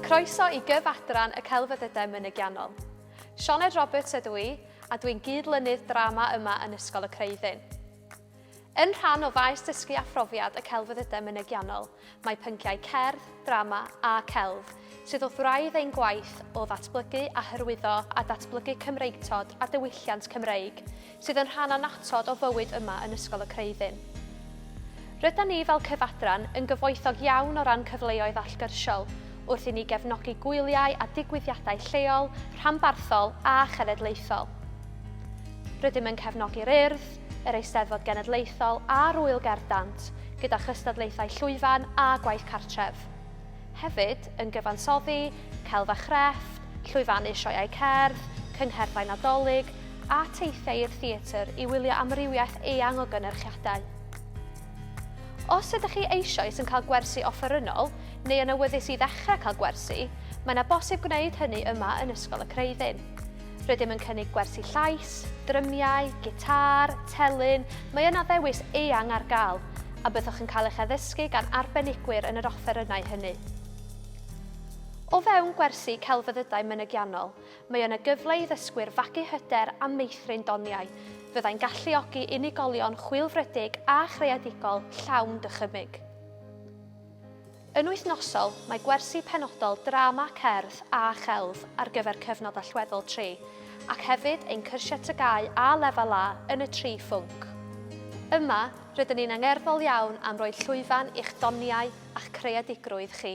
Croeso i gyf adran y Celfyddydau Mynygiannol. Sioned Roberts ydw i, a dwi'n gyd-lynydd drama yma yn Ysgol y Creuddyn. Yn rhan o faes dysgu a phrofiad y Celfyddydau Mynygiannol, mae pynciau cerdd, drama a celf, sydd wrth wraidd ein gwaith o ddatblygu a hyrwyddo a datblygu Cymreictod a diwylliant Cymreig sydd yn rhan annatod o fywyd yma yn Ysgol y Creuddyn. Rydan ni fel Cyfadran yn gyfoethog iawn o ran cyfleoedd allgyrsiol wrth i ni gefnogi gwyliau a digwyddiadau lleol, rhanbarthol a chenedlaethol. Rydym yn cefnogi'r Urdd, yr Eisteddfod Genedlaethol a'r Ŵyl Gerdd Dant gyda chystadlaethau llwyfan a gwaith cartref. Hefyd yn gyfansoddi, celf a chrefft, llwyfannu sioeau cerdd, cyngherddau Nadolig a teithiau i'r theatr i wylio amrywiaeth eang o gynyrchiadau. Os ydych chi eisoes yn cael gwersi offerynnol neu yn awyddus i ddechrau cael gwersi, mae yna bosib gwneud hynny yma yn Ysgol y Creuddyn. Rydym yn cynnig gwersi llais, drymiau, gitâr, telyn, mae yna ddewis eang ar gael, a byddwch yn cael eich addysgu gan arbenigwyr yn yr offerynnau hynny. O fewn gwersi celfyddydau mynygiannol, mae yna gyfle i ddysgwyr fagu hyder a meithrin doniau. Fyddai'n galluogi unigolion chwilfrydig a chreadigol llawn dychymyg. Yn wythnosol, mae gwersi penodol drama, cerdd a chelf ar gyfer cyfnod allweddol tri, ac hefyd ein cyrsiau TGAU A Lefel A yn y tri phwnc. Yma, rydyn ni'n angerddol iawn am roi llwyfan i'ch doniau a'ch creadigrwydd chi.